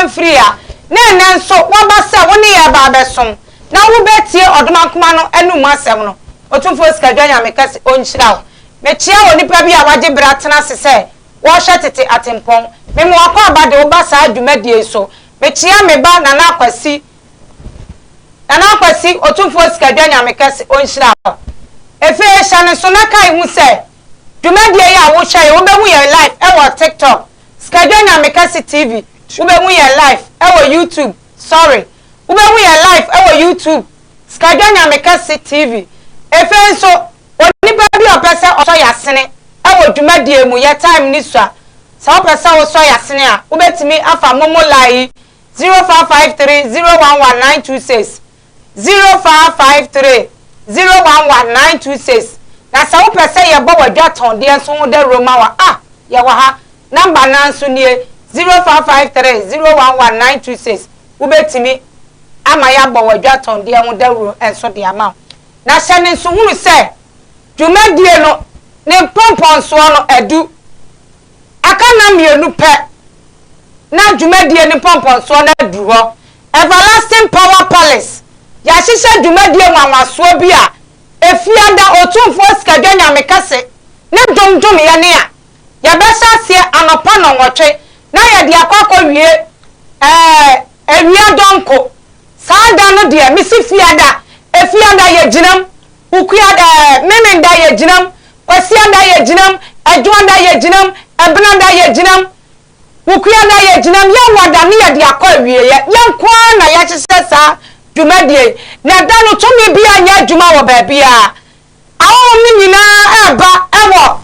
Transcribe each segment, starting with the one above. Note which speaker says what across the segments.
Speaker 1: mfiri a, na ɛnnɛ nso woaba sɛ wo ne yɛn reba abɛsom, na wobɛtie ɔdomankoma no anom asɛm no. Otumfoɔ Sikadwa Nyame kɛse ɔnhyira wo. Mekyea onipa bi a wagye berɛ atena ase sɛ ɔrehwɛ tete atempɔn. Mema w'akwaaba de wo ba saa dwumadie yi so. Mekyea me ba Nana Akwasi, Nana Akwasi, Otumfoɔ Sikadwa Nyame kɛse ɔnhyira wo. Ɛfei hyɛ ne nso na kae hu sɛ, Dwumadie yi a wo hyɛ yɛ wo bɛ hu yɛn live ɛwɔ tiktok skedwe nyame kɛse tv wo bɛ hu yɛn live ɛwɔ youtube sorry wo bɛ hu yɛn live ɛwɔ youtube skedwe nyame kɛse tv efei nso onipa bi a ɔpɛ sɛ ɔsɔ yasene ɛwɔ dwumadie mu yɛ time ne sua sɛ wo pɛ sɛ wo sɔ yasene a wo bɛ tumi afa momo line yi zero five five three zero one one nine two six 0553011926 na sɛ wopɛ sɛ yɛbɔ w'adwatɔndeɛ nso ho dawuro ma wo a, yɛwɔ ha. Namba no ara nso nie, 0553011926. Wobɛtumi ama yɛabɔ w'adwatɔndeɛ ho dawuro nso de ama wo. Na hyɛ no nsohunu sɛ, dwumadie no, ne mpɔmpɔnsoɔ no adu. Aka nna mmienu pɛ na dwumadie no mpɔmpɔnsoɔ no aduru hɔ, Everlasting Power Palace, Yɛahyehyɛ dwumadie nwanwasoɔ bi a Efiada Otumfoɔ Sikadwa Nyame Kɛse ne dwom dwomeɛ no a yɛbɛhyɛ aseɛ anɔpa nnɔnwɔtwe na yɛde akɔ akɔwie ɛɛ awia dɔnko Saa da no deɛ mese Fiada, Efiada yɛgyinam, Ukuada ɛɛ Memenda yɛgyinam, Kwasiada yɛgyinam, Adwoada yɛgyinam, Ɛbenada yɛgyinam, Wukuada yɛgyinam, Yawada ne yɛde akɔ awieɛ. Yɛn nko ara na yɛahyehyɛ saa dwumadie yi, na ɛda no tumi biara nyɛ adwuma wɔ baabiara. Ahɔhom no nyinaa reba wɔ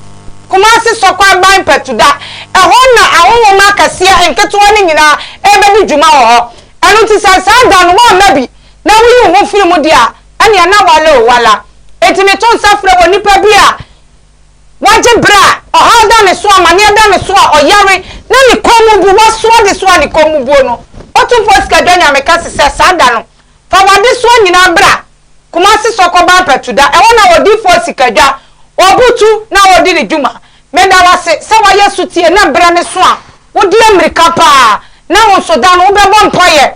Speaker 1: Kumasi Sɔkwaban Mpatuda. Ɛhɔ na ahɔhom akɛseɛ, nketewa no nyinaa rebɛdi dwuma wɔ hɔ. Ɛno nti sɛ saa da no woamma bi na woyi wo ho firi mu deɛ a, Ɛnea na wala o wala. Enti meto nsa frɛ wɔ nipa bi a wagye bere a ɔhaw da ne so, amaneɛ da ne so a ɔyare na ne kɔn mu bu, waso adesoa a ne kɔn mu buo no. Otumfoɔ Sikadwa Nyame ka se sɛ saa da no, fa w'adesoa nyinaa bra Kumasi Sɔkɔ Bampɛtuda, ɛhɔ na Odiyifoɔ Sikadwa, Obutu, na ɔredi ne dwuma. Meda wo ase sɛ woayɛ sotie na berɛ no so a wode ammirika paa na wo nso da no wobɛbɔ mpaeɛ.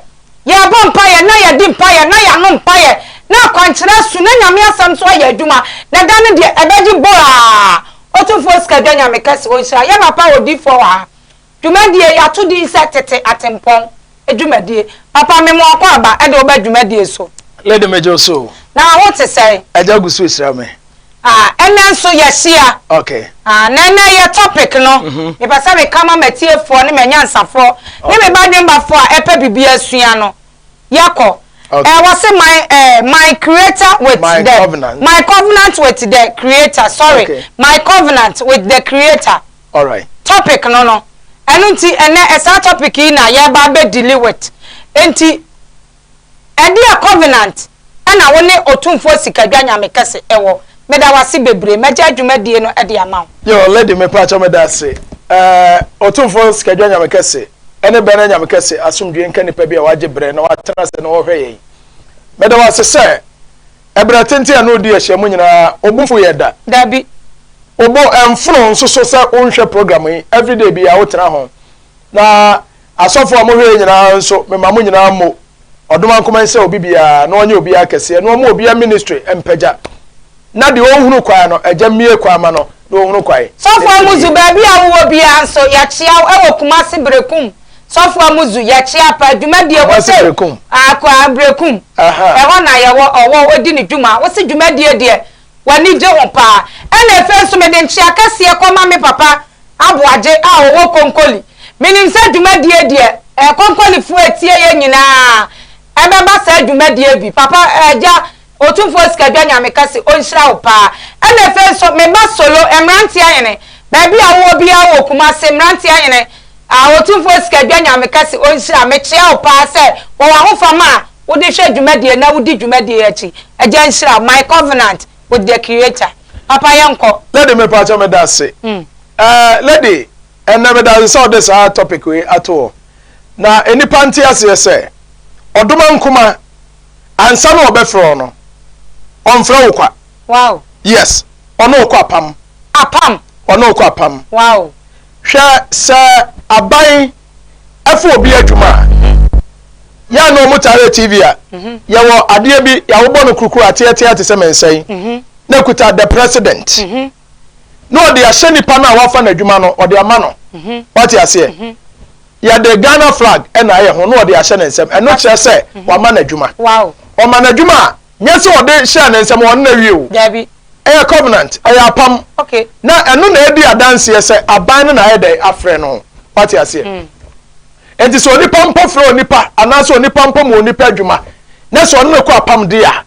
Speaker 1: Yɛrebɔ mpaeɛ na yɛadi mpaeɛ na yɛano mpaeɛ na akwankyerɛ asu na Nyame asɛm nso ayɛ adwuma na da no deɛ ɛbɛgye bɔɔ aa Otumfoɔ Sikadwa Nyame kɛse ɔnhyira yɛn papa odiyifoɔ wɔ ha Dwumadie yi ato din sɛ Tete Atempɔn Dwumadie. Papa, me mo akɔ aba de wo ba dwumadie so. Lady megye wo so o.
Speaker 2: Na wo ho te sɛn?
Speaker 1: Agya gu so rehyira me.
Speaker 2: Ah, ɛnnɛ nso
Speaker 1: yɛahyia. Ok. Ah, na
Speaker 2: ɛnnɛ yɛ
Speaker 1: topic no, mepɛ sɛ meka ma m'atiefoɔ ne m'anyansafoɔ ne me badwembafoɔ a ɛpɛ biribi asua no. Yɛkɔ. Ok. Eh, wɔse my, eh, my creator with My the, covenant. my
Speaker 2: covenant with
Speaker 1: the creator, sorry, Ok. my covenant with the creator. Alright.
Speaker 2: Topic no no.
Speaker 1: Ɛno nti ɛnɛ ɛsaa topic yi na yɛreba abɛ deali with. Enti ɛdeɛ covenant ɛna wo ne Otumfoɔ Sikadwa Nyame kɛse ɛwɔ? Meda wo ase bebree. Mɛgya adwumadie no ɛde ama wo. Yo, lady me pakyɛ
Speaker 2: meda ase. Eh, Otumfoɔ Sikadwa Nyame kɛse ɛne Bɛnɛ Nyame kɛse asomdwie nka nipa bi a wagye brɛ na watena ase na ɔrehwɛ yɛn. Meda wo ase sɛ. Ɛberɛ tenten a na ɔdi ahyiam nyinaa, wo bo mfu yɛ da? Dabi.
Speaker 1: Wo bo
Speaker 2: mfono nso so sɛ wonhwɛ program yi everyday biara wotena ho? Na asɔfoɔ a mohwɛ yei nyinaa nso mema mo nyinaa mmo ɔdomankoma nsrɛ obi biara na ɔnyɛ obiara kɛseɛ na ɔmmu obiara ministry mpagya na deɛ ɔnhunu kwan no Agya mmue kwan ma no na ɔnhunu kwan. Sɔfo Amuzu, baabi
Speaker 1: a wowɔ biara nso, yɛakyea wo wɔ Kumasi Berekum. Sɔfo Amuzu, yɛkyea paa dwumadi a wode akɔ Aberekum. Ɛhɔ na yɛwɔ, ɔwɔ, odi ne dwuma. Wose dwumadi yi deɛ w'ani gye ho paa. Ɛna afei nso mede nkyea kɛseɛ kɔma me papa Aboagye a ɔwɔ Konkoli. Menim sɛ dwumadi yi deɛ Konkolifoɔ a ɛtie yɛn nyinaa ɛbɛba saa dwumadie bi. Papa, Agya. Otumfoɔ Sikadwa Nyame ka se onhyira wo paa. Ɛna ɛfei nso me ba Solo, Mmranteɛ Hene, baabi a wowɔ biara wɔ Kumase, Mmranteɛ Hene, a Otumfoɔ Sikadwa Nyame ka se onhyira, mekyea wo paa sɛ wɔ w'ahofama a wode hwɛ dwumadie na wodi dwumadie akyi. Agya nhyira wo. My covenant with the Creator. Papa yɛnkɔ. Lady me pakyɛ me da
Speaker 2: se eh lady ɛnɛ me da se sɛ ɔde saa topic wei ato hɔ na enipa nte aseɛ sɛ ɔdoma nkoma ansa na ɔbɛfrɛ wo no ɔnfrɛ wo kwa wow yes ɔne wo kɔ apam apam ɔne wo kɔ apam wow
Speaker 1: hwɛ
Speaker 2: sɛ aban ɛfo obi adwuma a yɛa na ɔmo taare tv a mhm. yɛwɔ adeɛ bi yɛawobɔ no kurukuru ateɛteɛ te sɛ mɛnsɛn mhm. na kuta the president mhm. na ɔde ahyɛ nipa no a wafa n'adwuma no ɔde ama no wate aseɛ yɛde ghana flag ɛna ayɛ ho na ɔde ahyɛ ne nsɛm ɛno kyerɛ sɛ wama n'adwuma ɔma
Speaker 1: n'adwuma a
Speaker 2: nyɛ sɛ ɔde hyɛ ne nsɛm ɔno na awie o ɛyɛ
Speaker 1: covenant
Speaker 2: ɛyɛ apam na ɛno
Speaker 1: na ɛdi
Speaker 2: adanseɛ sɛ aban no na ayɛ dɛn afrɛ no wate aseɛ hmm. nti sɛ onipa mpo frɛ onipa anaasɛ onipa mpo ma onipa adwuma na sɛ ɔno na kɔ apam de a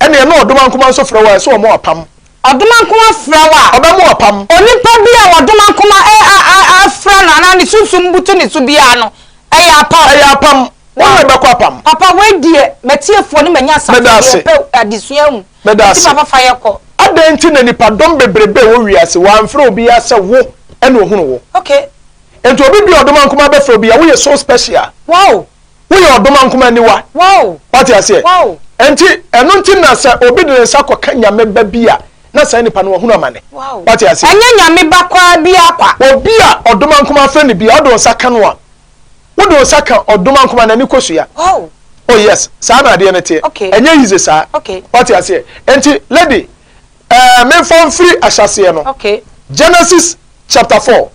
Speaker 2: Ɛneɛ na ɔdom ankoman nso frɛ wo a ɛso ɔmɔ apam. Ɔdom ankoman
Speaker 1: frɛ wo a. Ɔbɛ mo apam. Onipa
Speaker 2: bi a
Speaker 1: ɔdom ankoman a a a a frɛ no anaa ne sunsum butu ne so biara no ɛyɛ apam. Ɛyɛ apam. Wo ne no bɛkɔ
Speaker 2: apam. Papa wei deɛ
Speaker 1: matiefoɔ ne manyasafoɔ Meda ase. deɛ pɛ adesua ahu Meda nti ase. papa fa yɛ kɔ. Adɛn nti na nipa
Speaker 2: dɔm bebrebe wɔ wiase wamfrɛ obiaa sɛ wo ɛna ohunu wo? Okay.
Speaker 1: Nti obi bia
Speaker 2: ɔdom ankoman bɛfrɛ obi a woyɛ so special. Wow
Speaker 1: Woyɛ ɔdomankoma
Speaker 2: aniwa. Wate aseɛ? Ɛnti,
Speaker 1: ɛno
Speaker 2: nti na sɛ obi de ne nsa kɔka Nyame ba bi a, na saa nipa no wahunu amane. Wate aseɛ? Ɛnyɛ
Speaker 1: Nyame
Speaker 2: ba koraa
Speaker 1: biara kwa. Obi a ɔdomankoma
Speaker 2: afrɛ no biara, wode wo nsa ka no a, wode wo nsa ka ɔdomankoma, n'ani kɔ sua. Oh
Speaker 1: yes,
Speaker 2: saa na adeɛ no teɛ. Ɛnyɛ easy saa. Wate aseɛ?
Speaker 1: Ɛnti,
Speaker 2: lady, ɛɛ, memfa mfiri ahyɛaseɛ no, Genesis chapter four,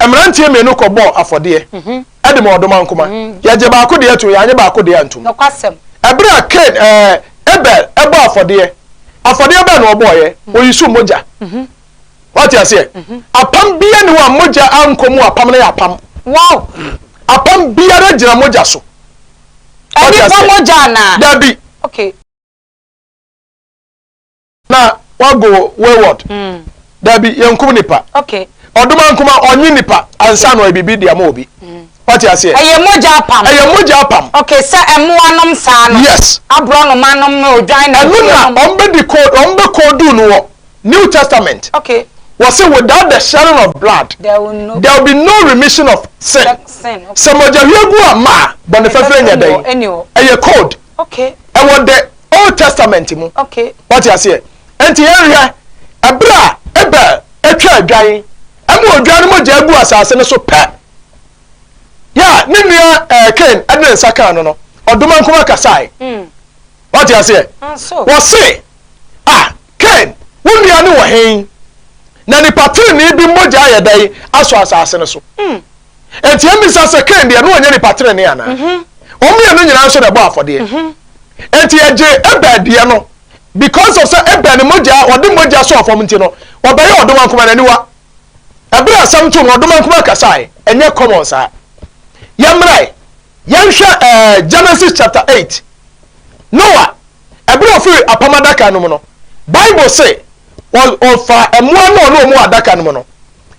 Speaker 2: mmeranteɛ mmienu kɔbɔɔ afɔdeɛ de maa ɔdomankoma. Yɛgyee baako deɛ toeɛ, yɛannye baako deɛ antom. Ɛberɛ
Speaker 1: a Kain,
Speaker 2: ɛɛ, Abel bɔɔ afɔdeɛ, afɔdeɛ bɛn na ɔbɔeɛ? Ɔyii so mogya. Woate aseɛ? Apam biara nni hɔ a mogya ankɔ mu a apam no yɛ apam. Apam biara gyina mogya so.
Speaker 1: Woate aseɛ? Dabi.
Speaker 2: na wago wayward mm. dabi yɛnkum nipa okay. ɔdoma
Speaker 1: nkoma
Speaker 2: ɔnye nipa ansa na ɔyɛ biribi de ama obi mm. wate aseɛ ɛyɛ mogya apam ɛyɛ
Speaker 1: mogya apam okay sɛ ɛmoa
Speaker 2: nom
Speaker 1: saa no yes aborɔ noma
Speaker 2: nom ne
Speaker 1: odwan na ɛno na ɔmbɛdi code
Speaker 2: ɔmbɛkɔ du no wɔ new testament okay was it
Speaker 1: without the
Speaker 2: shedding of blood there will, no, there will be no remission of sin sɛ mogya
Speaker 1: hwiegu a
Speaker 2: ma bɔne fɛfɛ nyɛ dɛn ɛyɛ code Okay. Ɛwɔ
Speaker 1: the
Speaker 2: old testament mu. Okay. Wate
Speaker 1: aseɛ?
Speaker 2: Nti yɛn hwɛ, ɛberɛ a Abel atwa adwan, ɛma odwan no mogya gu asase no so pɛ, yɛ a ne nua ɛɛ Cain ɛde ne nsa kan no no, ɔdoma nkoma kasae. Mm. Wate aseɛ? Nso. Wɔse, ah. Kain, wo nua no wɔ he, na nipa trenee bi mogya ayɛ dɛn asɔ asase no so? Enti yemmisa sɛ, Kain deɛ, na ɔnyɛ nipa trenee anaa? Wɔn mmienu nyinaa nso na ɛbɔɔ afɔdeɛ. Enti ɛgyee Abel deɛ no, because of sɛ Abel ne mogya, ɔde mogya sɔɔ fam nti no, ɔbɛyɛɛ ɔdomankoma no aniwa. Ɛberɛ a asɛm too no, ɔdomankoma kasae. Ɛnyɛ common saa. Yɛmmra ɛ, yɛnhwɛ ɛɛ Genesis chapter eight. Noah. Ɛberɛ a ɔfiri apam adaka no mu no, Bible se, Ɔfaa mmoa ne ɔne wɔn wɔ adaka no mu no,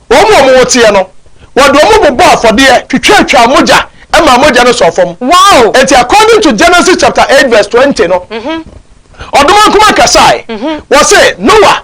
Speaker 2: wɔn a wɔn ho teɛ no, wɔde wɔn bobɔɔ afɔdeɛ twitwatwaa mogya maa mogya no sɔɔ fam. Wow! Enti according
Speaker 1: to
Speaker 2: Genesis chapter eight verse twenty no, Ɔdomankoma kasae, ɔse, Noa,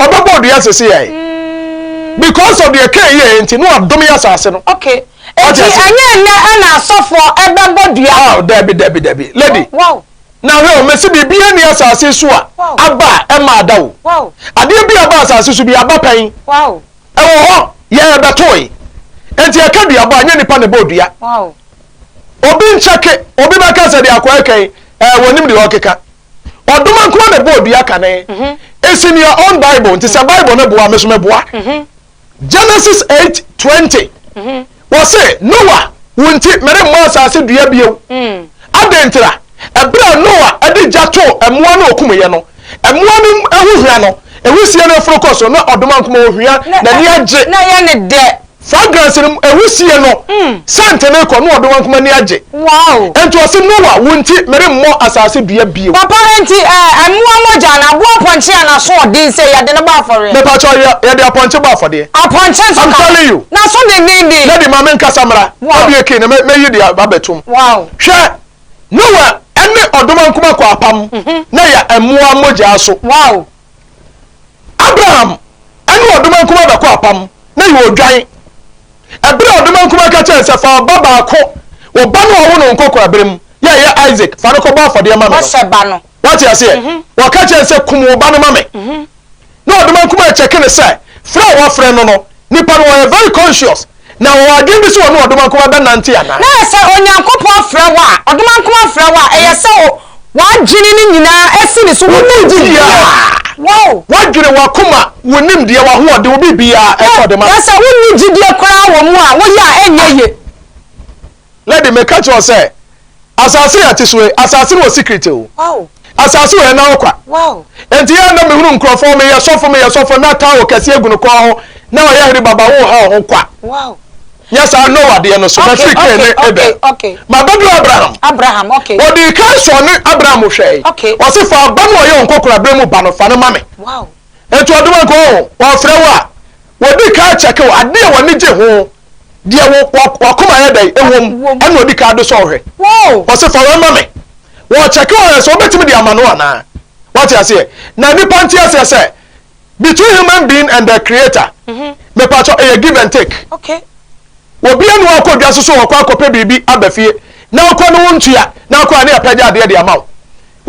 Speaker 1: Ɔbɛbɔ odua asese
Speaker 2: yɛ ayɛ. Because of deɛ Cain yɛɛ nti, Noah domee asase no. Okay. Eti
Speaker 1: ɛnyɛ nnɛ ɛna asɔfoɔ ɛbɛbɔ dua no? Oh, dabi, dabi, dabi.
Speaker 2: Lady. Wow.
Speaker 1: Na hwɛ o, mese
Speaker 2: biribiara nni asase yi so a aba a ɛmma ada o. Wow. Adeɛ bi a
Speaker 1: ɛba asase
Speaker 2: so bi, aba pɛn. Wow. Ɛwɔ
Speaker 1: hɔ,
Speaker 2: yɛn ɛbɛtoe. Enti ɛka duabɔ a, ɛnyɛ nipa na ɛbɔ odua.
Speaker 1: Wow. Obi
Speaker 2: nkyɛke, obi bɛka sɛ deɛ akɔɛ kɛn, ɛɛ wɔnim deɛ ɔkeka. Ɔdoma nkoa na ɛbɔɔ dua kane. It's in your own bible nti sɛ bible no boa me so mɛboa. Genesis eight twenty wɔse Noa wo nti meremmɔ asase dua bio. Adɛn ntira? Ɛberɛ a Noa de gya too mmoa no ɔkumuyɛ no mmoa no ho hwa no wisie no foro kɔ so na ɔdoma nkoma ɔhwa n'ani agye. Na yɛne dɛ
Speaker 1: Fragrance no
Speaker 2: wisie no sɛnte no rekɔ, Noa bɛwankum ani agye. Enti ɔse,
Speaker 1: Noa,
Speaker 2: wo nti meremmɔ asase dua bio. Papa, enti
Speaker 1: mmoa mogya anaa aboa apɔnkye a n'asoɔden sɛ yɛde no bɔ afɔreɛ. Me pakyɛw, yɛde
Speaker 2: apɔnkye bɔ afɔdeɛ. Apɔnkye nso ka ho. I'm telling
Speaker 1: you. N'aso
Speaker 2: dendenden.
Speaker 1: Daddy, ma me nkasa mmra.
Speaker 2: Wow. Abie key na me me yi de abɛtum. Wow. Hwɛ, Noa ɛne ɔdomankuma kɔ apam, na yɛ mmoa mogya so. Wow.
Speaker 1: Abraham
Speaker 2: ne ɔdoman kumaa bɛkɔ apam na yɛ odwan. Ɛberɛ a ɔdoman kumaa ka kyerɛ sɛ fa ɔba baako, ɔba no a ɔwo no nkɔkora berɛ mu, yɛ ɛyɛ Isaac, fa no kɔbɔ afɔdeɛ ma me no. Ɔsɛ ba no. Wate
Speaker 1: aseɛ? Mm -hmm.
Speaker 2: Wɔka kyerɛ sɛ kum wo ba no ma me. Mm -hmm. Na ɔdoman kumaa kyɛke no sɛ frɛ a wafrɛ no no Nnipa no wɔyɛ very conscious na wɔwɔ adwene bi sɛ wɔne ɔdomankoma bɛnante anaa. Na sɛ Onyankopɔn
Speaker 1: frɛ wo a, ɔdomankoma frɛ wo a, ɛyɛ sɛ w'adwene no nyinaa si ne so. Wo nimdeɛ, w'adwene, w'akoma,
Speaker 2: wo nimdeɛ, w'ahoɔden, wo biribiara, ɛsɛ sɛ ɔde ma wo. Na sɛ wonni gyidie
Speaker 1: koraa wɔ mu a, woyɛ a ɛnyɛ yie.
Speaker 2: Na de meka kyerɛ wo sɛ, Asase a yɛte so yi, asase no wɔ secret o. Asase
Speaker 1: wɔ ɛna
Speaker 2: ɔkwa. Enti yɛ
Speaker 1: na mehunu
Speaker 2: nkurɔfoɔ, meyɛ sɔfo, meyɛ sɔfo, na towel kɛseɛ gu ne kɔn ho, na ɔyɛ hene baba, wo ha wo ho kwa.
Speaker 1: Nyɛ saa nnɔ
Speaker 2: wadeɛ no so, mafiri Kain ne Abel. Mabɛduru Abraham. Abraham, ok. Wɔdii kan
Speaker 1: sɔɔ ne
Speaker 2: Abraham hwɛe. Ok. Ɔse fa ɔba
Speaker 1: no a ɔyɛ
Speaker 2: wo nkɔkorabere mu ba no, fa no ma me. Wow. Enti
Speaker 1: ɔdoma nka
Speaker 2: ɔho, ɔfrɛ wo a, wɔdi kan kyɛke wo, adeɛ a w'ani gye ho, deɛ wakoma yɛ dɛn ɛwom ɛna ɔdi kan de sɔɔ hwɛ ɔsɛ fa wei
Speaker 1: ma me
Speaker 2: wɔkyɛke wɔn sɛ wobɛtumi de ama no anaa wate aseɛ na nipa nte aseɛ sɛ between human being and the creator mhm. mepatɔ ɛyɛ give and take okay.
Speaker 1: obi anu
Speaker 2: akɔ dwa so so wɔkɔ akɔpɛ biribi aba fie na akɔ no wo ntua na akɔ a ne apɛgya adeɛ de ama wo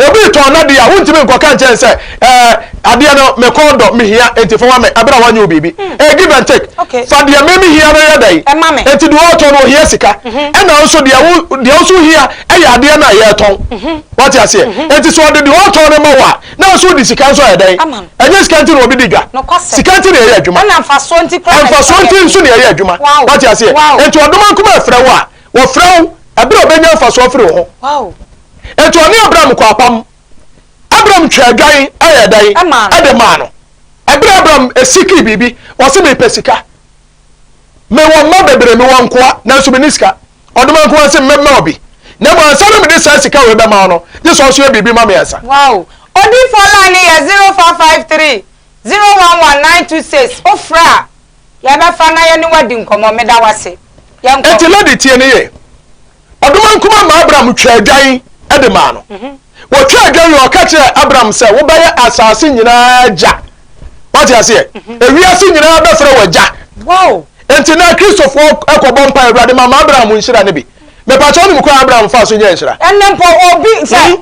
Speaker 2: Obi retɔn n'adeɛ a, wontumi nkɔka nkyerɛ no sɛ, eh, adeɛ no me kɔn dɔ, mehia, enti fa ma me, ɛberɛ a wanyɛ wo biribi. Hmm. Ɛyɛ give and take. Okay. Fa deɛ me mehia no yɛ dɛn? Ɛma me. Enti deɛ ɔretɔn no ɔhia sika, mhm. ɛna nso deɛ wo deɛ wo nso hia ɛyɛ adeɛ no a yɛretɔn. Mhm. Wate aseɛ? Mhm. Enti sɛ ɔde deɛ ɔretɔn no ma wo a, na nso wode sika nso ayɛ dɛn? Ama no. Ɛnyɛ sika nti na obi di dwa. Nokwasɛm. Sika nti na ɛyɛ adwuma. Ɛna mfasoɔ nti koraa na ɛyɛ
Speaker 1: adwuma. Mfasoɔ nti nso na
Speaker 2: ɛyɛ adwuma. Wate aseɛ? Enti ɔdoma nkuma ɛfrɛ wo a, wɔfrɛ wo ɛberɛ a ɔbɛnya mfasoɔ afiri wo ho.
Speaker 1: Enti ɔne
Speaker 2: Abram kɔɔ apam. Abram twaa adwan yɛɛ dɛn? De maa no. Bere a Abram sikii biribi, ɔse, Mepɛ sika. Mewɔ mma bebree, mewɔ nkoa, nanso menni sika. Ɔdoma nkoa no se, Mɛma wo bi. Na mmom ansa na mede saa sika wei bɛma wo no, gye sɛ wo nso yɛ biribi ma me ansa. Wow! Odiyifoɔ
Speaker 1: line no yɛ zero four five three zero one one nine two six. Wo frɛ a, yɛbɛfa na yɛne wo adi nkɔmmɔ. Meda wo ase. Yɛnkɔ. Enti lady tie no yie.
Speaker 2: Ɔdoma nkumaa ma Abram twaa adwan de maa no. Mhm. Wɔtwaa adwan yi, ɔka kyerɛɛ Abram sɛ, wobɛyɛ asase nyinaa agya. Wate aseɛ? Mhm. Ewiase nyinaa bɛfrɛ wɔ agya. Wow. Enti
Speaker 1: na Kristofoɔ
Speaker 2: kɔbɔ mpa Awurade ma ma Abraham nhyira no bi. Mepatwa wonim kwan Abraham fa so nyɛ nhyira? Ɛnɛ mpo obi sɛ
Speaker 1: hmm?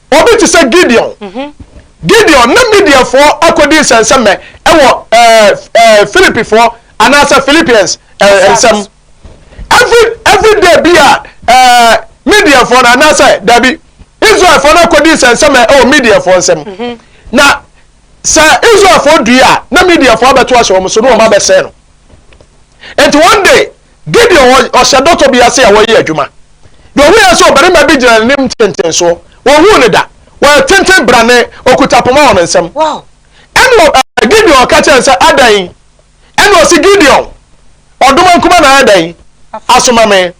Speaker 2: Obi te sɛ Gideon. Gideon ne Midianfoɔ akɔdi nsɛnsɛmmɛ wɔ Philippifoɔ anaasɛ Philippians nsɛm. Every every day bi a Midianfoɔ no anaasɛ dabi Israelfoɔ no akɔdi nsɛnsɛmmɛ wɔ Midianfoɔ nsɛm. Mhm. Na sɛ Israelfoɔ dui a na Midianfoɔ abɛto ahyɛ wɔn so na wɔn abɛsɛe no. Nti one day Gideon wɔ ɔhyɛ dɔtɔ bi ase a wɔreyɛ adwuma. Deɛ ɔhuiɛ nso ɔbarima bi gyina n'anim ntentensoɔ. Wɔnhuu no da. Ɔyɛ tenten brane, ɔkuta poma wɔ ne nsam.
Speaker 1: Ɛnna
Speaker 2: Gideon ka kyerɛɛ no sɛ, Adɛn? Ɛnna ɔse, Gideon, ɔdoma nkumaa na ayɛ dɛn? Asoma me.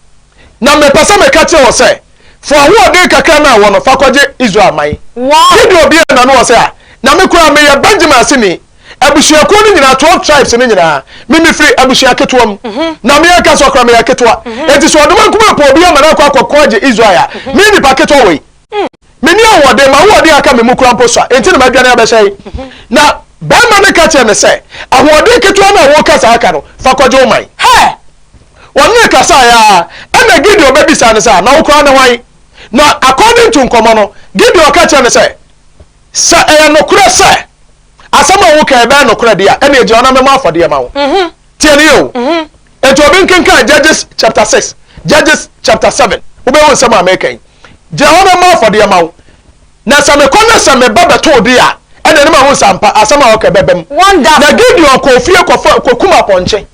Speaker 2: Na mepɛ sɛ meka kyerɛ wɔ sɛ, fa ahoɔden kakra no a wɔ no fa kɔgye Israel man. Gideon buee
Speaker 1: n'ano wɔ sɛ,
Speaker 2: A, na me koraa meyɛ Benyamin aseni. Abusuakuo no nyinaa, twelve tribes no nyinaa, me mefiri abusua ketewa mu, na me ankasa ɔkora meyɛ ketewa. Enti sɛ ɔdoma nkumaa pɛ obi ama no akɔ akɔko agye Israel a, me nipa ketewa wei, menni ahoɔden, m'ahoɔden a aka me mu koraa mpo sua, enti na madwane abɛhyɛ he? Na barima no ka kyerɛɛ no sɛ, Ahoɔden ketewa no a woreka saa ka no, fa kɔgye wo man. Hɛ!
Speaker 1: Wɔne no
Speaker 2: kasaeɛ ara, ɛnna Gideon bɛbisaa no sɛ, Na wo koraa ne hwan? Na according to nkɔmmɔ no, Gideon ka kyerɛɛ no sɛ, Sɛ ɛyɛ nokorɛ sɛ Asɛm a woka yi bɛyɛ nokorɛ deɛ a, ɛnneɛ gyae hɔ na mɛmɔ afɔdeɛ ma wo. Tie no yie o. Enti obi nkenkan Judges chapter six, Judges chapter seven, wobɛhu nsɛm a mereka yi. Gyina hɔ na mɛmɔ afɔdeɛ ma wo. Na sɛ mekɔ na sɛ meba bɛtoo deɛ a, ɛnneɛ na mahu sɛ ampa, asɛm a woka yi bɛbam. Na Gideon kɔɔ fie kɔkum apɔnkye.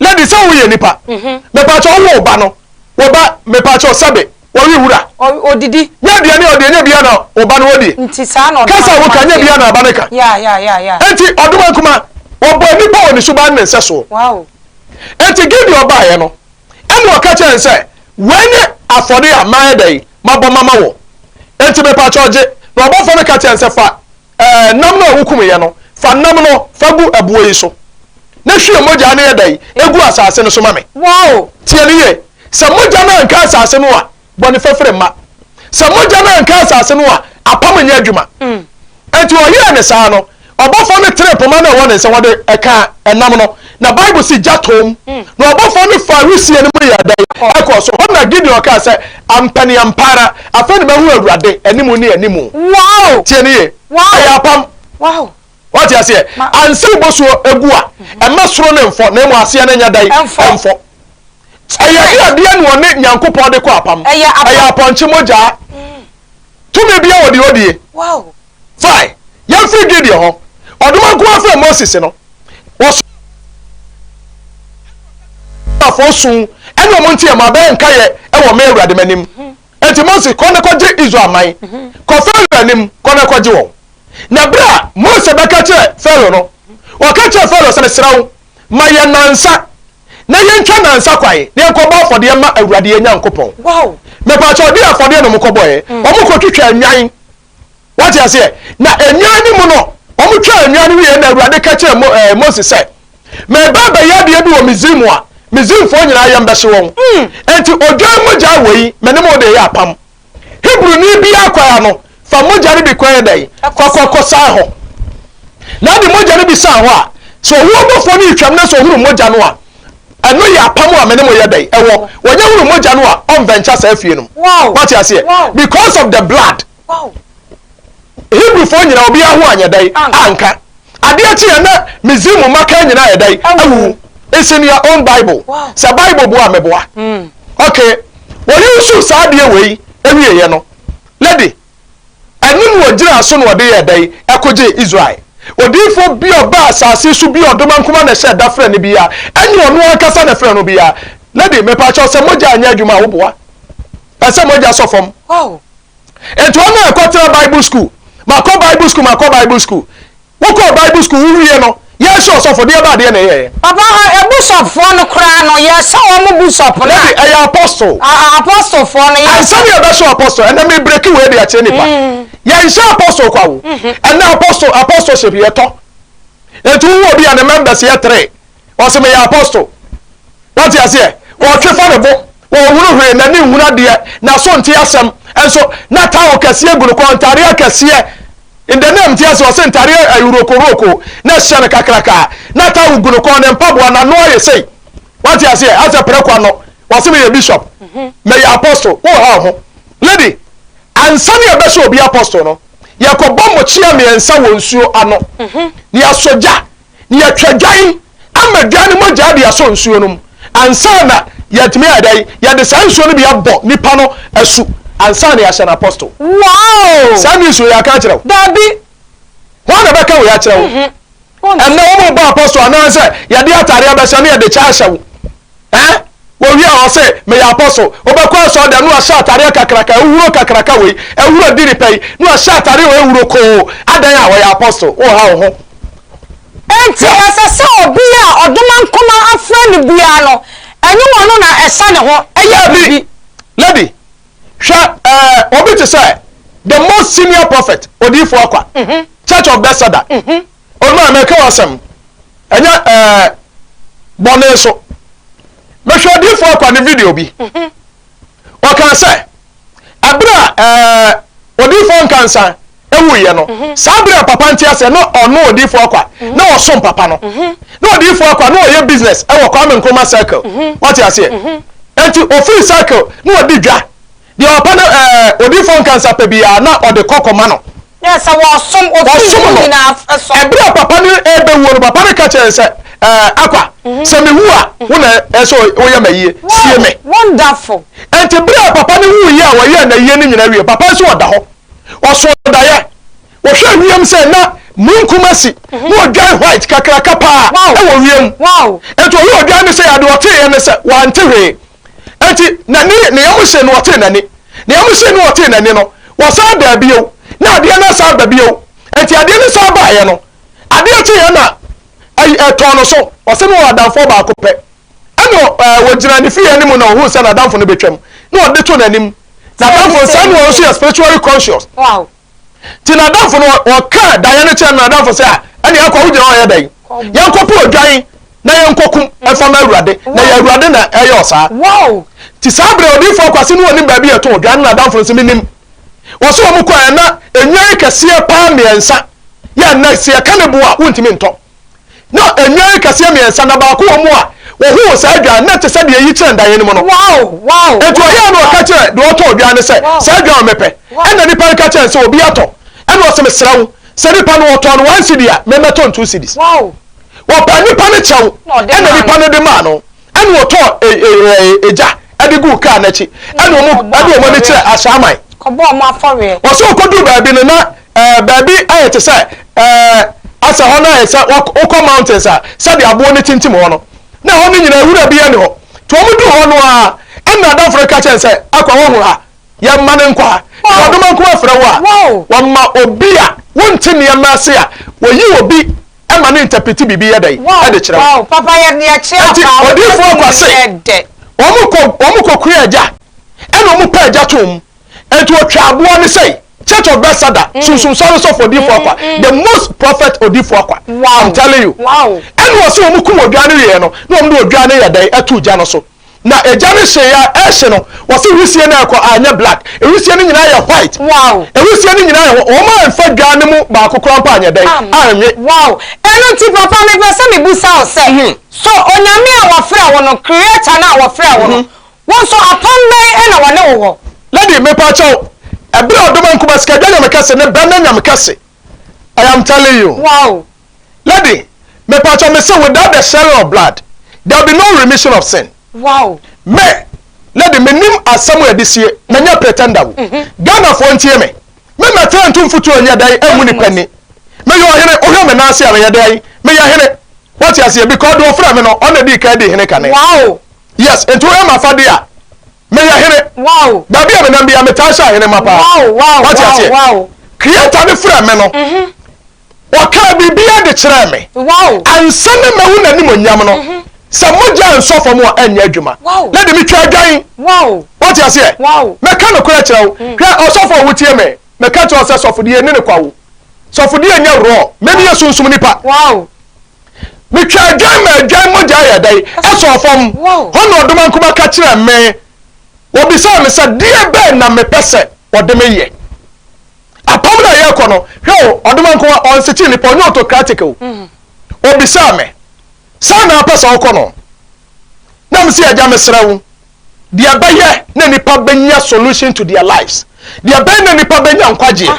Speaker 2: Lady sɛ wo yɛ nipa me pa kyɛw wo ba no wo ba me pa kyɛw sɛbe wɔ we wura. Odidi. Nyɛ
Speaker 1: aduane a ɔdeɛ nyɛ
Speaker 2: bia na wo ba no wɔ die. Nti saa na ɔdoma nkumaa teɛ. Kasa a
Speaker 1: wo ka nyɛ bia na aba
Speaker 2: no ka. Yeah yeah yeah yeah. Enti
Speaker 1: ɔdoma nkumaa
Speaker 2: wɔbɔɔ nipa wɔ ne suban ne nsɛ soɔ. Wow.
Speaker 1: Enti
Speaker 2: Gideon baeɛ no ɛna ɔka kyerɛ ne sɛ wei ne afɔde a mayɛ dɛn mabɔ mama wɔ. Enti me pa kyɛw gye. Na ɔbɔfoɔ no ka kyerɛ ne sɛ fa. Ɛɛ, nam no a wokumyɛ no, fa nam no fa gu ɛboɔ yi so, na hwie mogyaa no yɛ dɛn? Gu asase no so ma me. Wow! Tie no
Speaker 1: yie,
Speaker 2: sɛ mogya no anka asase no a, bɔne fafiri mma. Sɛ mogya no anka asase no a, apam nyɛ adwuma. Enti ɔyɛɛ no saa no, ɔbɔfoɔ no tenee poma no a ɛwɔ ne nsa wɔde ka nam no, Na Bible se gya tɔɔ mu, na ɔbɔfoɔ no faa wisie no mu yɛɛ dɛn? Ɛkɔɔ so. Hɔ na Gideon kaa sɛ, Ampa ne ampa ara, afei na mahu Awurade anim ne anim. Tie no yie. Ɛyɛ apam.
Speaker 1: Woate aseɛ?
Speaker 2: Ansa na bosuo gu a, ɛmma soro no mfɔ, na mmom aseɛ no nyɛ dɛn? Ɛmfɔ. Ɛyɛ de adeɛ na ɔne Nyankopɔn de kɔ apam. Ɛyɛ apɔnkye mogyaa. Tumi biara wɔ deɛ ɔdie.
Speaker 1: Fae,
Speaker 2: yɛn firi Gideon hɔ. Ɔdoma nko ara frɛɛ Moses no. Wɔsomaa Mose ɛne ɔka kyerɛɛ no sɛ, Israelfoɔ su ɛne wɔn nti ɛma bɛyɛ nkaeɛ wɔ me Awurade m'anim. Enti Mose, kɔ na kɔgye Israel man. Kɔ Farao anim, kɔ na kɔgye wɔn. Na berɛ a Mose bɛka kyerɛɛ Farao no, ɔka kyerɛɛ Farao sɛ, Mesrɛ wo, ma yɛn nnansa, na yɛntwa nnansa kwan, na yɛnkɔbɔ afɔdeɛ mma Awurade yɛn Nyankopɔn. Mepakyɛw,
Speaker 1: deɛ
Speaker 2: afɔdeɛ na wɔkɔbɔeɛ, wɔkɔtwitwaa nnwan wate aseɛ na nnwan no mu no wɔn twaa nnwan no wieɛ na awurade ka kyerɛ mo ɛɛ eh, mose sɛ mɛba abɛyɛ adeɛ bi wɔ misrim a misrimfoɔ nyinaa yɛn bɛhye wɔn hmm. nti odwan mogya wɔ yi mɛne mo de yɛ apam hebroni bi akɔya no fa mogya no bi kɔyɛ dɛn kɔkɔkɔ san hɔ na de mogya no bi san hɔ a sɛ ɔwɔ bɔfoɔ no retwam na sɛ ɔhunu mogya no a Ɛno yɛ apam a me ne mo yɛ dɛn ɛwɔ. Wɔnyɛ hunu mogya no a ɔnvɛnkya saa fie no mu. Moate aseɛ? Because of the blood. Hebrewfoɔ nyinaa obiara ho anyɛ dɛn anka. Adeɛ kyeeɛ na Misrim mmakan nyinaa ayɛ dɛn awuwu. It's in your own bible. Sɛ bible boa a meboa. Okay. Wɔyusu saa adeɛ wei ɛwieɛ no. Lady. Ɛno na ɔgyinaa so na ɔde yɛɛ dɛn? Ɛkogyee Israel. Odiyifoɔ bi a ɔbaa asase so bi a ɔdomankoma na ɛhyɛɛ da frɛɛ no biara, ɛnyɛ ɔno ankasa na ɛfrɛɛ no biara. Lady, mepa kyɛw, sɛ mogya anyɛ adwuma a, woboa? Ɛsɛ sɛ mogya sɔ fam.
Speaker 1: Enti wɔn
Speaker 2: a ɛkɔtena Bible school, makɔ Bible school, makɔ Bible school, Wo kɔɔ bible school wo wie no yɛ sɛ ɔsɔfo deɛ baa deɛ na ɛyɛɛ. Papa hɔ ɛbusɔp
Speaker 1: foɔ no koraa no yɛ sɛ wɔn busɔp no a. Dabi ɛyɛ apostol.
Speaker 2: Aa apostol foɔ no
Speaker 1: yɛ sɛ. Ansa ne yɛ bɛ sɔ apostol
Speaker 2: ɛnɛ me breki wei de akyerɛ nipa yɛ nhyɛ apostol kwa wo ɛnɛ apostol apostolship yɛ tɔ ɛnti wo wɔ bi a ne members yɛ three. Ɔse meyɛ apostle. Wate aseɛ? Ɔtwe fa ne bo. Ɔnhunu hwee, n'ani nhunu adeɛ, n'aso nte asɛm. Nso na towel kɛseɛ gu ne kɔn, ntadeɛ akɛseɛ. In the name, te aseɛ? Ɔse ntadeɛ ayurokoroko na ɛhyɛ no kakraka. Na towel gu ne kɔn, ne mpaboa, n'ano ayɛ sei. Wate aseɛ? Asɛ prɛko ano. Ɔse meyɛ bishop. Meyɛ apostle. Woha wo ho. Lady, ansa na yɛbɛhyɛ obi apostle no, yɛkɔbɔ mmokyea mmiɛnsa wɔ nsuo ano, na yɛasɔ gya na yɛtwa dwan ama dwan no mogyaa de asɔ nsuo no mu ansa na yɛatumi ayɛ dɛn? Yɛde saa nsuo no bi abɔ nipa no asu ansa na yɛahyɛ no apostle. Wow! Saa
Speaker 1: news wei yɛaka
Speaker 2: akyerɛ wo? Dabi.
Speaker 1: Hwan na
Speaker 2: bɛka wei akyerɛ wo? Ɛnna wɔn bɔ apostle anaasɛ yɛde atare abɛhyɛ ne yɛde kyɛ ahyɛ wo. Eh? Wɔwiaa hɔ se, Meyɛ Apostle. Wobɛkɔ asɔɔdɛm ne wahyɛ atareɛ kakraka, ahuhuro kakraka wei, ahuro di nipa yi, ne wahyɛ atareɛ wei ahuro koo, adɛn a ɔyɛ Apostle? Wonha wo ho. Enti
Speaker 1: ɛsɛ sɛ obi a ɔdomankoma afra no biara no, ɛnyɛ ɔno na ɛsa ne ho yɛ biribi.
Speaker 2: Lady, hwɛ eh, obi te sɛ the most senior prophet, Odiyifoɔ Akwa, Church of Bethesda, Onua, mɛka wo asɛm, ɛnyɛ ɛɛ bɔne so. Mehwɛ odiifo akwa ne video bi. Mhm. Ɔkaa sɛ, ɛberɛ a ɛɛ odiifo nkansa ewuiɛ no, mhm. saa berɛ a papa nte aseɛ na ɔno odiifo akwa mhm. na ɔsom papa no. Na odiifo akwa na ɔyɛ business ɛwɔ Kwame Nkrumah circle. Ɔte aseɛ. Enti ofiri circle na ɔdi dwa. Deɛ ɔpɛ no ɛɛ odiifoɔ nka nsa pɛ biara na ɔde kɔ kɔma no. Yɛ sɛ wɔsom
Speaker 1: wɔsom no
Speaker 2: nyinaa ɛsɔ. Ɛberɛ a papa no rebɛwuo no papa no ka
Speaker 1: kyerɛɛ
Speaker 2: no sɛ ɛɛ Akwa sɛ mewu a wo na ɛsɛ woyɛ m'ayie sie me. Wonderful.
Speaker 1: Ɛnti berɛ a
Speaker 2: papa no wuiɛ a wɔyɛɛ n'ayie no nyinaa wie papa nso ɔda hɔ ɔso daeɛ ɔhwɛ wiem sɛ na munkum asi na ɔdwan white kakraka paa ɛwɔ wiem ɛnti ɔyɛ ɔdwan no sɛ adeɛ ɔteeɛ no sɛ wante hwee Enti na ne ne yam hye no, ɔtee n'ani. Ne yam hyee no, ɔtee n'ani no, wɔsan baa bio, na adeɛ no asan aba bio. Enti adeɛ no san baeɛ no, adeɛ kyeeɛ na ɛy ɛtɔɔ no so. Ɔse na ɔwɔ adamfoɔ baako pɛ. Ɛna ɔ ɛɛ ɔgyinaa ne fie anim na ɔhuu sɛ n'adamfo no bɛtwam, na ɔde to n'anim. N'adamfo no saa na ɔno nso yɛ spiritually conscious. Nti n'adamfo no ɔkaa daeɛ no kyerɛ no n'adamfo sɛ a ɛne akɔ wo gyina ɔyɛ dɛn yɛnkɔpo odwan na yɛnkɔkum ɛfa ma awurade na yɛ awurade na ɛyɛ ɔsaa nti saa berɛ odiifo akwase no ɔnim baabi yɛto odwan no n'adamfo no sɛ menim wɔsɛ wɔn kɔ ɛna enwan kɛseɛ paa mmiɛnsa yɛ ɛna sɛ yɛka ne boa wontumi ntɔ Na nnwan akɛseɛ mmiɛnsa, na baako wɔ mu a wɔhoo saa dwan, na ɛte sɛ deɛ eyi kyerɛ ndaeɛ no mu no. Enti ɔyɛɛ na ɔka kyerɛ deɛ ɔtɔɔ dwan no sɛ, Saa dwan a mepɛ. Ɛnna nipa no ka kyerɛɛ no sɛ, Obi atɔ. Ɛnna ɔse, Mesrɛ wo, sɛ nipa no ɔtɔɔ no one cedi a, memmɛtɔ no two cedis. Wɔpaa nipa no kyɛw, ɛnna nipa no de maa no. Ɛna ɔtɔɔ egya ɛde guu kaa no akyi. Ɛna ɔmo ɛde ɔmo ani kyerɛɛ asraaman. Kɔbɔɔ ɔmo afɔreɛ.
Speaker 1: Ɔsɛ ɔkɔduu baabi
Speaker 2: no na ɛɛ baabi ayɛ te sɛ ɛɛ asɛ hɔ no ayɛ sɛ wokɔ mountains a sɛdeɛ aboɔ no tintim hɔ no na ɛhɔ no nyinaa nwura biara nni hɔ. Nti ɔmo duu hɔ no ara ɛna adamfo no ka kyerɛɛ no sɛ, Akwa woahunu ha? Yɛmma no nkwa. Sɛ ɔdom anko afrɛ wo a, wɔma obi a wonte nneɛma ase a wɔyi obi ma no ntɛpete biribi yɛ dɛn de kyerɛ wo. Enti
Speaker 1: odiyifoɔ Kwase,
Speaker 2: wɔn kɔkura agya ɛna wɔn pɛ agya too mu. Enti wɔtwa aboa no sɛi. Church of Bethesda, mm. Sunsun Sɔre Sɔfo Odiyifoɔ Akwa, mm, mm. the most prophet Odiyifoɔ Akwa. Wow. I'm telling you. Wow. Ɛna wɔsi wɔn kum odwa no yɛ no, na wɔn de odwa no yɛ dɛn ɛto gya no so. Na egya no hyee a ɛrehye no wɔse wisie no ɛrekɔ anyɛ black ɛwisie no nyinaa yɛ white wow ɛwisie no nyinaa yɛ hɔ wɔn anfa dwa no mu baako koraa mpo anyɛ dɛn anwe wow
Speaker 1: ɛno nti papa mepɛ sɛ mebusa wo sɛ mm-hmm. so onyame a wɔfrɛ wo no creator no a wɔfrɛ wo no mm-hmm. wo nso apam bɛn ɛna wɔne wo wɔ lady mepa
Speaker 2: kyɛw ɛberɛ a ɔdoma nkuba sikadwa nyame kɛse ne bɛn na nyame kɛse I am telling you. Wow!
Speaker 1: Lady,
Speaker 2: mepatwɔ me se without the shedding of blood, there will be no remission of sin. Wow! Me, lady, me nim asem a yɛde sie, me nyɛ pretender o. Ghanafoɔ ntie me, me mɛtena ntu mfutuo nyɛ dɛn ɛngu nipa ni. Me yɛ ɔhene, wohwɛ me nan ase a me yɛ dɛn? Me yɛ hene. Wate aseɛ? Because deɛ ɔfrɛ me no, ɔno na ɛdii kan dii hene kane. Wow! Yes,
Speaker 1: nti wohwɛ
Speaker 2: m'afadeɛ a, meyɛ hene wow baabi a menam
Speaker 1: bia metaa
Speaker 2: hyɛ ahene ma paa wow wow wate aseɛ wow creator
Speaker 1: ne frɛ
Speaker 2: me no ɔkaa biribiara de kyerɛɛ me wow ansa
Speaker 1: na mahu
Speaker 2: n'anim onyam no sɛ mogya nsɔ fam a ɛnyɛ adwuma na de metwa adwan wow wate
Speaker 1: aseɛ wow
Speaker 2: mɛka no korɛ
Speaker 3: kyerɛ wo
Speaker 2: hwɛ ɔsɔfo a wotie me mɛka kyerɛ wo sɛ sɔfo deɛ ɛni ne kwa wo sɔfo deɛ nyɛ worɔ mɛni yɛ sunsum nipa wow
Speaker 3: Metwa
Speaker 2: adwan ma adwan mogya yɛ dɛn? Ɛsɔɔ fam. Hɔ na ɔdomankoma ka kyerɛɛ me. Wɔbisaa me sɛ, Deɛ bɛn na mepɛ sɛ wɔde me yɛ? Apam no a yɛrekɔ no, hwɛ o, ɔdomankoma ɔnsekyere nnipa, ɔnyɛ autocratic o. Wɔbisaa me, Sɛn na wopɛ sɛ wokɔ no? Na mese, Agya, mesrɛ wo, deɛ bɛyɛ na nnipa bɛnya solution to their lives, deɛ bɛn na nnipa bɛnya nkwagyeɛ?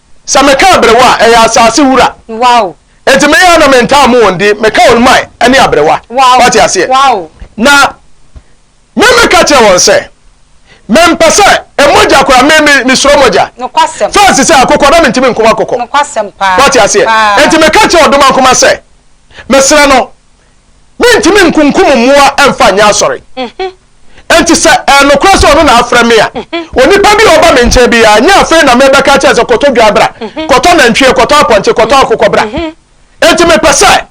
Speaker 2: Sɛ meka aberewa a, ɛyɛ asase wura. Wow. Enti
Speaker 1: me ara na me
Speaker 2: ntaa mo wɔn di, meka wɔn mae ɛne aberewa. Wow. Wate aseɛ? Wow. Na me me ka kyerɛ wɔn sɛ, me mpɛ sɛ emogya kora me me me suro mogya. Nokwasɛm. Fɛs
Speaker 1: sɛ akokɔ na me
Speaker 2: ntumi nko akokɔ. Nokwasɛm paa. Wate
Speaker 1: aseɛ? Paa. Enti
Speaker 2: me ka kyerɛ ɔdomankoma sɛ, me srɛ no. Mentumi nkunkum mmoa mfa nyɛ asɔre. Enti sɛ ɛyɛ nokorɛ sɛ ɔno na afrɛ me a, onipa bi a ɔba me nkyɛn biara, nyɛ afei na merebɛka akyerɛ no sɛ, 'Kɔtɔ dwa bra, kɔtɔ nantwie, kɔtɔ apɔnkye, kɔtɔ akokɔ bra. Enti mepɛ sɛ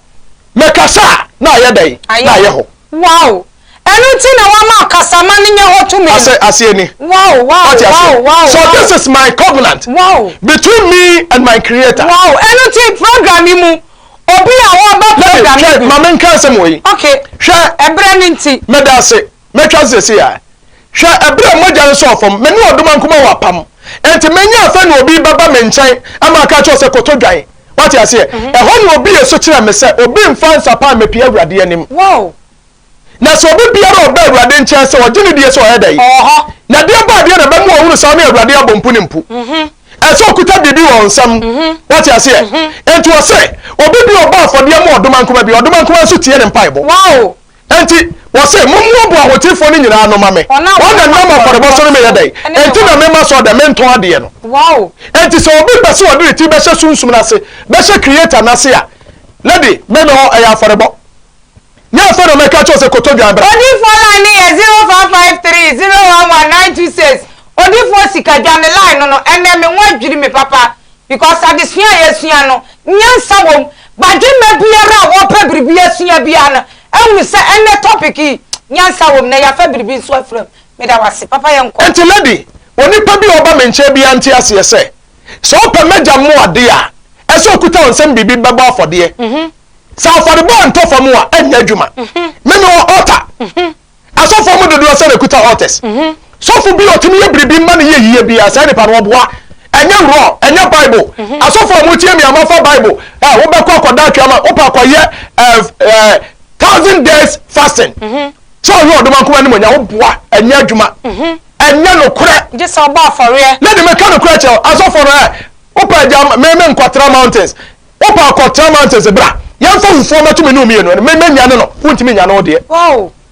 Speaker 2: mekasa a, na ayɛ dɛn? Na ayɛ hɔ.
Speaker 1: Ɛno nti na wama ɔkasaman no nya hɔ tumi no. Aseɛ ni. Wow,
Speaker 2: wow,
Speaker 1: Wate aseɛ? wow, wow, So this wow. is
Speaker 2: my covenant Wow. between
Speaker 1: me and my
Speaker 2: creator.
Speaker 1: Wow, ɛno
Speaker 2: nti
Speaker 1: program
Speaker 2: yi mu, obi
Speaker 1: a ɔreba
Speaker 2: Lady,
Speaker 1: program hwɛ, yi bi. ma
Speaker 2: me nka asɛm wɔ yi. Okay, Hwɛ,
Speaker 1: ɛberɛ no
Speaker 2: nti.
Speaker 1: meda ase, mɛtwa
Speaker 2: ase sɛsi a. Hwɛ, ɛberɛ a mogya no sɔɔ fam, me ne ɔdoma nkuma wɔ apam. Enti menya afɛ na obi bɛba me nkyɛn ama aka akyerɛ wo sɛ koto dwan. Wate aseɛ? Ɛhɔ na obi yɛ so kyerɛɛ me sɛ obi mfa nsapan mmɛpie Awurade anim. Wow.
Speaker 1: Na sɛ
Speaker 2: obi biara a ɔba Awurade nkyɛn sɛ ɔgye no die sɛ ɔyɛ dɛn? Ɔwɔ hɔ. Na deɛ ɛba adeɛ na ɛbɛma wahunu sɛ ɔne Awurade abɔ mponim po. Ɛsɛ sɛ ɔkuta biribi wɔ nsam. Woate aseɛ? Enti wɔse, obi bi a ɔbɔ afɔdeɛ ma ɔdomankoma bi, ɔdomankoma nso tie ne mpaebɔ. Wow! Enti wɔse, mommoaboa ahotefoɔ no nyinaa ano ma me. Wɔn a wɔnam afɔrebɔ so no meyɛ dɛn? Enti na memma sɛ ɔda mentɔn adeɛ no. Wow! Enti sɛ
Speaker 1: obi pɛ
Speaker 2: sɛ ɔde ne ti bɛhyɛ Sunsum no ase, bɛhyɛ Creator no ase a, na de. Mɛmɛ hɔ, ɛyɛ afɔrebɔ. Nyɛ afei na mɛka akyerɛ wo sɛ kɔtɔ dwan bra. Odifoɔ line no yɛ
Speaker 1: zero five five three zero one one nine two six odifoɔ sika dwa me line no no ɛnɛ me ho adwiri me papa because adesua a yɛsua no nyansa wɔ mu badwemma biara a wɔpɛ biribi asua biara no ahunu sɛ ɛnɛ topic yi nyansa wɔ mu na yɛafa biribi nso afira mu meda wo ase papa yɛnkɔ. Nti lady
Speaker 2: onipa bi a ɔba me nkyɛn biara nte aseɛ sɛ sɛ ɔpɛ m'agya mmoa adeɛ a ɛsɛ ɔkuta wo nsam biribi bɛbɔ afɔdeɛ Sɛ afɔrebɔ a ntɔ fam a ɛnyɛ adwuma. Me ne wɔ altar. Asɔfoɔ mu dodoɔ sɛ na ɛkuta altars. Sɔfo bi a ɔtumi yɛ biribi mma no yɛ yie biara, saa nipa no ɔboa. Ɛnyɛ wrong, ɛnyɛ Bible. Asɔfoɔ a motie me a moafa Bible, eh, wobɛkɔ akɔda atwea ma, wopɛ akɔyɛ eh, eh, thousand days fasting. Sɛ ɔyɛ ɔdoma nkoma anim ɔnya, woboa, ɛnyɛ adwuma. Ɛnyɛ nokorɛ. Gye sɛ ɔbɔ afɔreɛ.
Speaker 1: Na de meka nokorɛ kyerɛ wo,
Speaker 2: asɔfoɔ no, eh, wopɛ agya, me me nkɔtra mountains. Wopɛ a kɔ Tram Anthony se bra yɛmfa wufoɔ mmɛto me ne wo mmienu ɛno me mɛnyane no wontumi nyane wo deɛ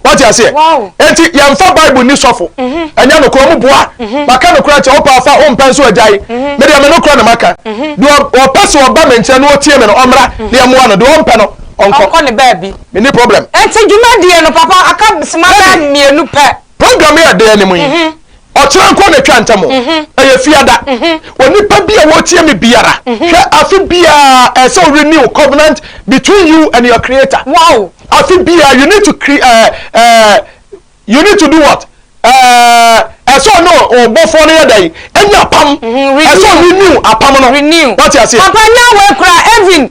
Speaker 2: wate aseɛ enti yɛmfa
Speaker 1: Bible
Speaker 2: nni sɔfo ɛnyɛ nokorɛ ɔmo boa maka nokorɛ akyɛ wopɛ a fa wompɛ nso agyae me deɛ me nokorɛ na maka deɛ ɔpɛ sɛ ɔba me nkyɛn na ɔtie me no ɔmmra na yɛmmoa no deɛ ɔmpɛ no ɔnkɔ me
Speaker 1: ni problem. Enti
Speaker 2: dwumadie no
Speaker 1: papa aka sima bɛɛ mmienu pɛ. Program yi a ɛda anim
Speaker 2: yi, ɔkyena nko na etwa ntam o. Ɛyɛ Fiada. Onipa bi a wɔretie me biara, hwɛ afe biara ɛsɛ sɛ o renew covenant between you and your creator. Wow! Afe
Speaker 1: biara you
Speaker 2: need to cre uh, uh, you need to do what? Uh, ɛsɛ ɔne ɔbɔfoɔ no yɛ dɛ yi, ɛnyɛ apam. Ɛsɛ o renew apam no. Renew. Wate aseɛ? Papa
Speaker 1: nya
Speaker 2: wɔ ekura
Speaker 1: Evelyn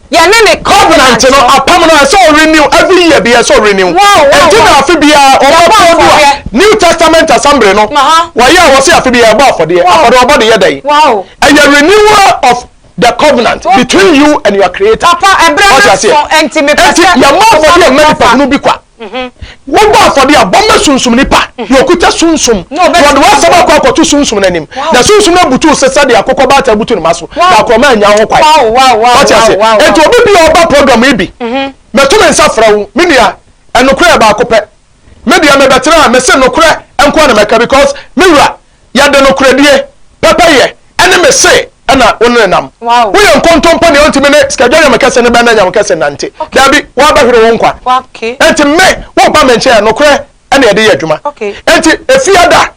Speaker 1: Yɛne ne covenant no. Covenant no, apam no, ɛsɛ
Speaker 2: ɔ renew, every year biaa ɛsɛ ɔ renew. Wow, wow, wow. Ɛnti na afe biaa ɔbɔ Yɛbɔ pon do a, afɔdeɛ. New Testament Assembly no, Aha. wɔyɛ a wɔse afe biaa yɛbɔ afɔdeɛ. Wow. Afɔdeɛ wɔbɔ de yɛ dɛn? Wow. Ɛyɛ
Speaker 1: renewal
Speaker 2: of the covenant Okay. between you and your creator. Papa, ɛberɛ no Ɔte aseɛ?
Speaker 1: aso, ɛnti mepɛ Ɛnti sɛ yɛmmɔ afɔdeɛ mma
Speaker 2: nipa hunu bi kwa. Wobɔ afɔdeɛ a, bɔ ma sunsumni pa, deɛ ɔkuta sunsum, na ɔde w'asɛm akɔ akɔto sunsum no anim, na sunsum no abutu wo so sɛdeɛ akokɔbaatan butu ne mma so, na akorɔma annya ho kwan. Woate aseɛ?
Speaker 1: Enti obi
Speaker 2: bi a ɔba program yi bi, mɛto me nsa frɛ wo, me nua, nokorɛ yɛ baako pɛ. Me deɛ mebɛtena ha, mese nokorɛ nko ara na mɛka because me wura, Yɛde nokorɛdie, pɛpɛyɛ, ne me se na wo ne no nam. Woyɛ nkontompo deɛ wontumi ne Sikadware Nyame kɛse no bɛn na Nyame kɛse nnante. Daabi, woabɛhwere wo nkwa. Enti me,
Speaker 1: woreba
Speaker 2: me nkyɛn a, nokorɛ na yɛde yɛ adwuma. Enti
Speaker 1: Efiada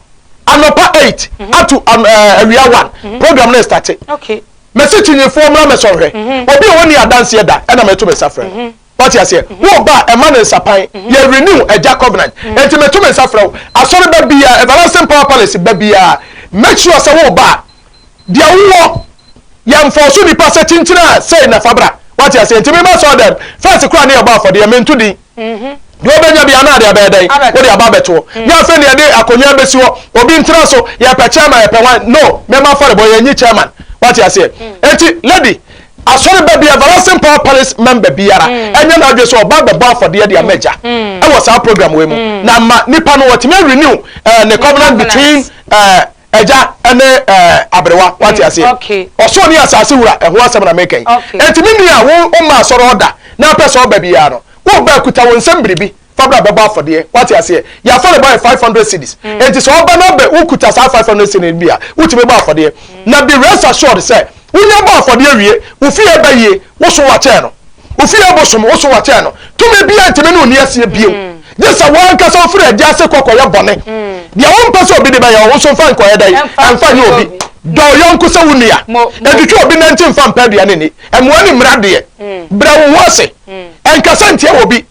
Speaker 2: anɔpa eight ato awia one, program no restate. Mese
Speaker 1: kyinyifoɔ
Speaker 2: mmra mɛsɔ nhwɛ. Obi a ɔnni adanseɛ da na meto me nsa frɛ no. Wate aseɛ? Mhm. Wo ba a, ɛma no nsapan. Mhm. Yɛ renew agya covenant. Mhm. Enti meto me nsa frɛ wo. Asɔre ba biara, Everlasting Power Palace ba biara, make sure sɛ wo ba a, deɛ wowɔ, yɛmfɔɔ so nipa sɛ kyinkyin a sei na fa bra. Wate aseɛ? Enti mema sɔɔ dɛm. First koraa ne yɛbɔ afɔdeɛ, mento din. Deɛ wobɛnya bia na ade abɛyɛ dɛn? Wode aba abɛtoɔ. Ne afei ne yɛde akonnwa bɛsi hɔ, obi ntena so, yɛpɛ chairman, yɛpɛ wan. No, mɛma afɔrebɔ, yɛnyi chairman. Wate aseɛ? Enti lady, Asɔreba bi everlasting power palace member biara ɛnyɛ mm. n'adwe sɛ ɔba bɛbɔ afɔdeɛ de ama agya mm. ɛwɔ saa program wei mu mm. na ma nipa no wɔtumi renew eh, ne covenant between eh, ɛgya ɛne ɛɛ aberewa wate ase ɔsoro ne asase wura ɛho asɛm na mekɛn ɛtumi nua wo ɔma asɔrɔ ɔda na apɛ sɛ ɔba biara no wo ba kuta wɔn nsɛm biribi fa bra bɛbɔ afɔdeɛ wate aseɛ deɛ afɔrebɔ yɛ five hundred cities mm. eti sɛ ɔba na bɛ wokuta saa five hundred cities bi a wotumi bɔ afɔdeɛ mm. na be rest assured sɛ wonya bɔ afɔdeɛ wie wofi yɛ bɛ yie woso wakyɛn no wofi yɛ bosom woso wakyɛn no tumi bi a ntumi ne oni aseɛ bio gye sɛ wɔn ankasa ofiri ɛdi ase kɔkɔ yɛ bɔne deɛ wɔn mpɛ sɛ obi de bɛyɛ wɔn nso nfa nkɔyɛ dɛ nfa nye obi dɔ yɔnko sɛ wo nua ɛtwitwa obi nanti nfa mpa aduane ni ɛmoa ne mmira deɛ brɛ wo ho ase ɛnkasa ntia wɔ bi.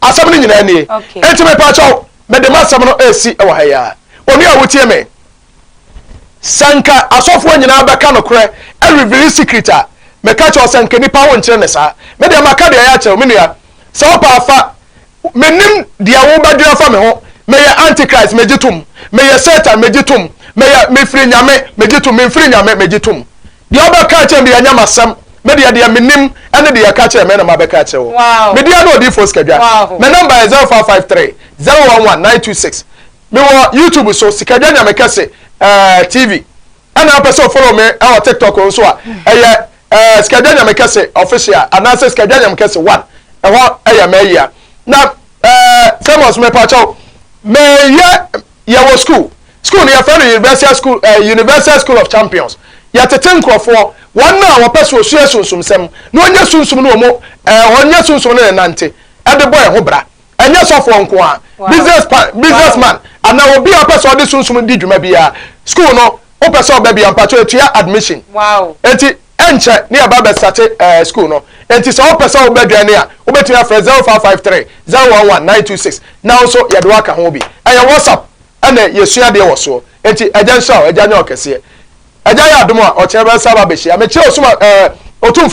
Speaker 2: asɛm no nyinaa nie enti mepaakyɛw mede m'asɛm no ɛsi wɔ ha yi a onua a wotie me sɛ nka asɔfoɔ nyinaa bɛka nokorɛ ɛrevili secret a meka kyɛw sɛ nka nipa wo nkyerɛ ne saa me deɛ maka deɛ ɛyɛ akyerɛw me nua sɛ wopɛ afa menim deɛ wobɛdwene afa me ho meyɛ antichrist megye tom meyɛ satan megye tom meyɛ mefiri nyame megye tom memfiri nyame megye tom Deɛ wobɛka akyerɛ me deɛ ɛnyɛ m'asɛm, me deɛ deɛ menim ne deɛ ɛka kyerɛɛ me na mabɛka akyerɛ wo. Me deɛ ne Odiyifoɔ Sikadwa. Me number yɛ zero five five three, zero one one, nine two six. Me wɔ YouTube so, Sikadwa Nyame Kɛse TV. Ɛna wopɛ sɛ o follow me wɔ TikTok nso a, ɛyɛ Sikadwa Nyame Kɛse Official anaasɛ Sikadwa Nyame Kɛse One. Ɛhɔ yɛ m'ayia. Na Famous mepaakyɛw, meyɛ yɛwɔ school School no yɛfrɛ no Universal School eh, Universal School of Champions. Yɛtete nkorɔfoɔ, wɔn a wɔpɛ sɛ wɔsua sunsumsɛm, na wɔnyɛ sunsum ne wɔn eh, wɔnyɛ sunsum ne ne nante, de bɔ yɛn ho bra. Ɛnyɛ sɔfoɔ nko ara, business pa, business man, anaa obi a ɔpɛ sɛ ɔde sunsum di dwuma biara, school no, wopɛ sɛ ɔba bi a, mpakyɛw yɛtua admission. Enti, ɛnkyɛ ne yɛba abɛsate eh, school no. Enti sɛ wopɛ sɛ woba dwan no a, wobɛtumi afrɛ 0553 011 926 na wo nso yɛde wo aka ho bi. Ɛyɛ WhatsApp ɛne yɛsua adeɛ wɔ soɔ. Enti Agya nhyira wo, Agya nyɛ wo kɛseɛ. Agya yɛ adom a, ɔkyena bɛsan aba abɛhyia. Mekyerɛ Osuma ɛɛ Otumfoɔ.